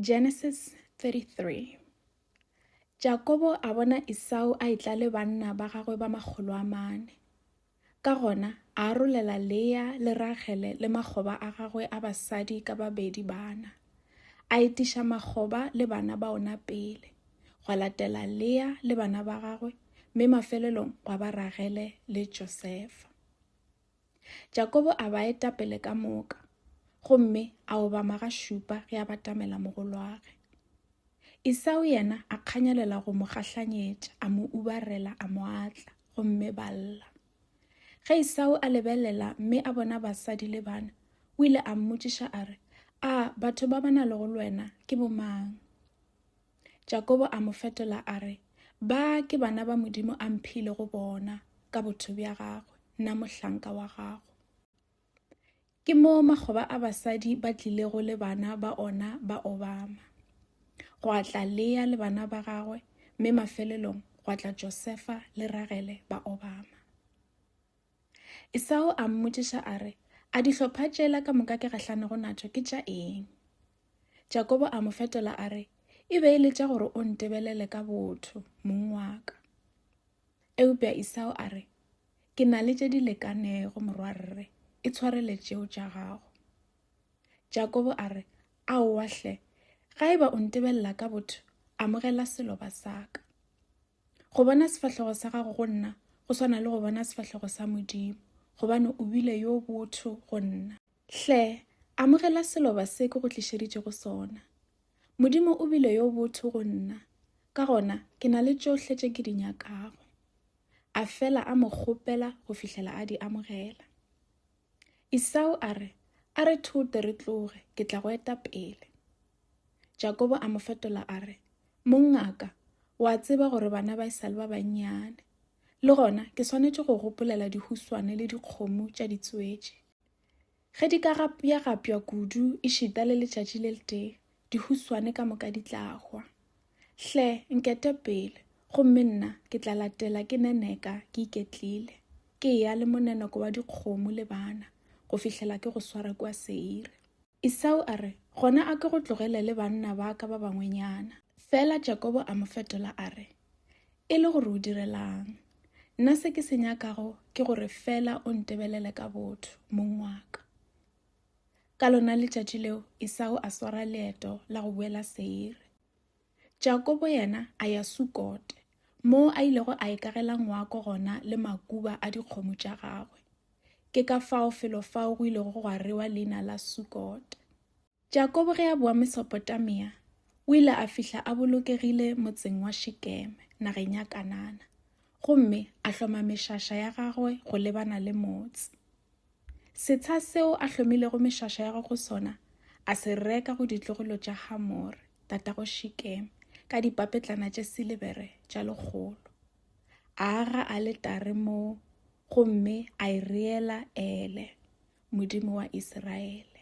Genesis 33 Jakobo a bona Isau a etla le banna ba gagwe ba makgolo a mane. Ka gona a arolela Lea le Ragele le makgoba a gagwe a basadi ka babedi bana. A etiša makgoba le bana ba ona pele, gwa latela Lea le bana ba gagwe, mme mafelelong gwa ba Ragele le Josefa. Jakobo a ba eta pele ka moka, gomme a obama ga šupa ge a batamela mogolwage. Isao yena a kganyelela go mo gahlanyetša, a mo ubarela, a mo atla, gomme ba lla. Ge Isao a lebelela mme a bona basadi le bana, o ile a mmotšiša a re, A batho ba ba na lego lwena ke bomang? Jakobo a mo fetola a re, Ba ke bana ba Modimo a mphile go bona ka botho bja gagwe, nna mohlanka wa gago. Ke mo makgoba a basadi ba tlilego le bana ba ona ba Obama. Gwa tla Lea le bana ba gagwe, mme mafelelong gwa tla Josefa le Ragele ba Obama. Esau a mmotšiša a re, A dihlopha tšela ka moka ke gahlanego natšo ke tša eng? Jakobo a mo fetola a re, E be e le tša gore o ntebelele ka botho, mong wa ka. Eupša Esau a re, Ke na le tše di lekanego, morwarre, e tshwarele tšeo tša gago. Jakobo a re, Aowa hle, ga eba o ntebelela ka botho, amogela seloba sa ka. go bona sefahlego sa gago go nna go swana le go bona sefahlego sa modimo gobane o bile yo botho go nna hle amogela seloba se ke go tlišeditše go sona modimo o bile yo botho go nna ka gona ke na le tšohle tše ke di nyakago a fela a mo kgopela go fihlela a di amogela isao a re a re thote re tloge ke tla go eta pele Jakobo a mo fetola a re, Mongaka, o a tseba gore bana ba esale ba bannyane. Le gona ke swanetše go gopolela dihuswane le dikgomo tša ditswetši. Ge di ka gapjagapja kudu e šita le letšatši le letee, dihuswane ka moka di tla hwa. Hle, nkete pele, gomme nna ke tla latela ke neneka ke iketlile, ke ya le moneneko wa dikgomo le bana, go fihlela ke go swara kua Seire. Isau a re, Gona a ke go tlogelele banna ba ka ba bangwenyana. Fela Jakobo a mo fetola a re, E le gore o direlang? Nna se ke se nyakago ke gore fela o ntebelele ka botho, mong wa ka. Ka lona letšatši leo Isau a swara leeto la go boela Seire. Jakobo yena a ya Sukote, moo a ilego a ikagela ngwako gona le makuba a dikgomo tša gagwe. Ke ka fao felo fao go ilego gwa rewa leina la Sukote. Jakobo ge a boa Mesopotamia, o ile a fihla a bolokegile motseng wa Shekeme nageng ya Kanana gomme a hloma mešaša ya gagwe go lebana le motse. Setsha seo a hlomilego mešaša ya go sona a se reka go ditlogolo tša Hamore, tatago Shikeme, ka dipapetlana tše silebere tša lekgolo. A aga aletare moo gomme a e reela Ele, Modimo wa Iseraele.